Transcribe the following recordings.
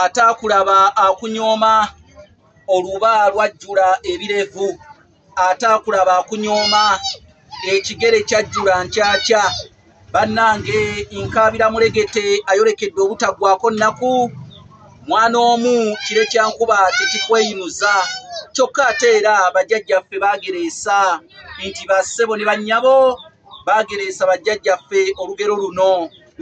ataakulaba akunyooma oluba lwajjula ebirevu ataakulaba akunyooma ekigere kyajjula nkyakya bannange nkaabira mulegete ayolekedde obutaggwako nnaku mwana omu kire kyankuba tekikweyinuza kyokka ate era bajjajjaffe baagereesa nti bassebo ne bannyabo baagereesa bajjajjaffe olugero luno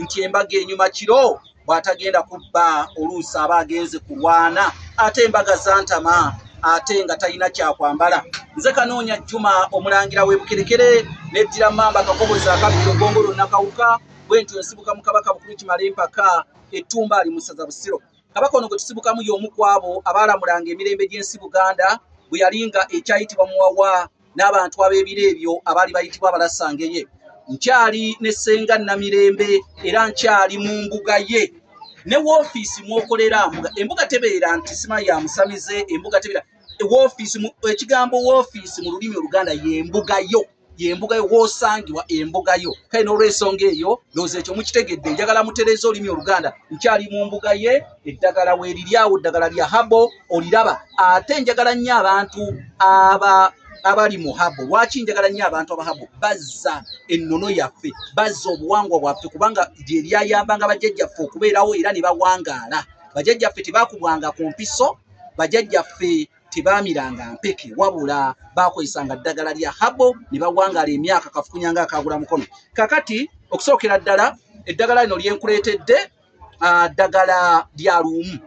nti embaga enyuma kiro bw'atagenda ku bba oluusi aba agenze kulwana ate embaga zantama ate nga talina kyakwambala nze kanoonya jjuma omulangira w'ebukerekere neddira mmamba kakobozi akabbiro gongo lwonna kawuka bwe ntyo nsibuka mu kabaka bukulu kimala empaka ettumba ali mu ssaza busiro kabaka ono gwe tusibukamu y'omu ku abo abaalamulanga emirembe gy'ensi buganda bwe yalinga ekyayitibwa muwawa n'abantu ab'ebiro ebyo abaali bayitibwa abalasangeye nkyali ne ssenga namirembe era nkyali mu mbuga ye ne woofiisi mwokolera mbuga embuga tebeera nti sima ya musamize embuga tebeera woofiisi ekigambo woofiisi mu lulimi oluganda y'embuga yo yembuga yo wosangibwa embuga yo kale n'olwensonga eyo looza ekyo mukitegedde njagala mutereeza olulimi oluganda nkyali mu mbuga ye eddagala weeriri awo ddagala lya habo oliraba ate njagala nnyo abantu aba abali mu habo lwaki njagala nnyo abantu abahabo bazza ennono yaffe bazza obuwangwa bwaffe kubanga lye lyayambanga bajjajjaffe okubeerawo era ne bawangaala bajajjaffe tebakubwanga ku mpiso bajajjaffe tebaamiranga mpeke wabula bakozesanga ddagala lya habo ne bawangala emyaka kafukunyanga akagula mukono kakati okusookera ddala eddagala lino lyenkuleetedde ah, ddagala lya luumu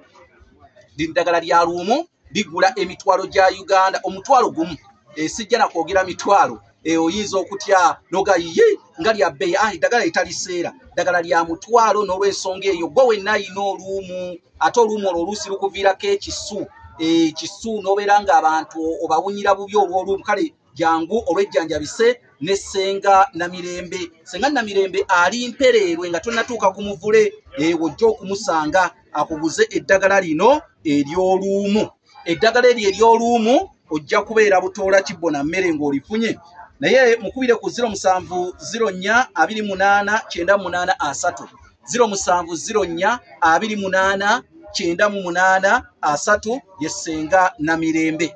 liri ddagala lya luumu ligula emitwalo gya uganda omutwalo gumu esijja nakwogera mitwalo eh, oyinza okutya noga ye nga lya bbeyi ah, eddagala etaliseera ddagala lya mutwalo n'olwensonga eyo gwe wenna ayina oluumu ate oluumu olwo oluusi lukuviirako ekisu ekisu eh, n'obeera ng'abantu obawunyira bubi olw'oluumu kale jangu olwejjanjabise ne senga namirembe senga namirembe ali mpereerwe nga tonatuuka ku muvule ewo jja okumusanga akuguze eddagala lino eryoluumu eddagala eryo eryoluumu ojja kubeera butoola kibbo na mmere ng'olifunye naye mukubire ku 07042898 07042898 ye senga namirembe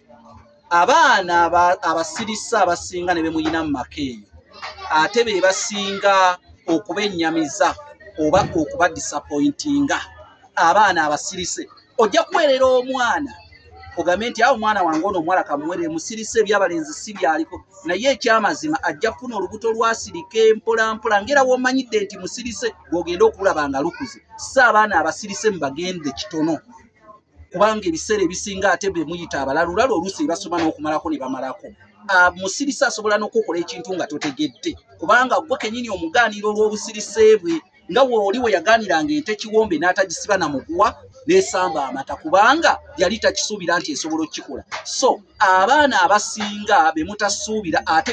abaana abasirisa abasinga ne bemuyina mu maka eyo ate be basinga okubennyamiza oba okuba disappointinga abaana abasirise ojja kuweerera omwana ogambe nti awo omwana wange ono omuwala kamuwerere musirise ebyabalenzi si byaliko naye ekyamazima ajja kufuna olubuto lwasirika empolampola ngaera womanyidde nti musirise gogenda okulaba nga lukuze si abaana abasirise mubagende kitono kubanga ebiseera ebisinga ate be muyita abalala olala oluusi ebasoma n'okumalako ne bamalako ah, musirisa asobola n'okukola ekintu nga totegedde kubanga gwe kenyini omugaaniro olw'obusirise bwe nga wooli we yagaaniranga ente kiwombe n'atagisiba na muguwa n'esamba amata kubanga yali takisuubira nti esobola okukikola so abaana abasinga be mutasuubira ate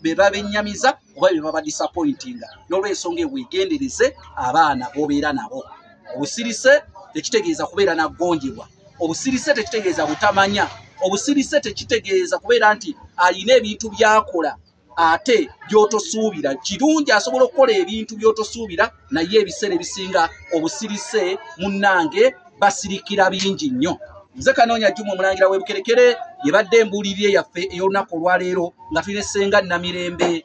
be babennyamiza oba be babadisappointinga n'olwensonga eweegendereze abaana b'obeera nabo obusirise tekitegeeza kubeera nagonjebwa obusirise tekitegeeza butamanya obusirise tekitegeeza kubeera nti alina ebintu byakola ate byotosuubira kirungi asobola okukola ebintu byotosuubira naye ebiseera ebisinga obusirise munnange basirikira bingi nnyo nze kanoonya juma omulangira webukerekere yebadde embuulirire yaffe ey'olunaku olwaleero nga tulina essenga namirembe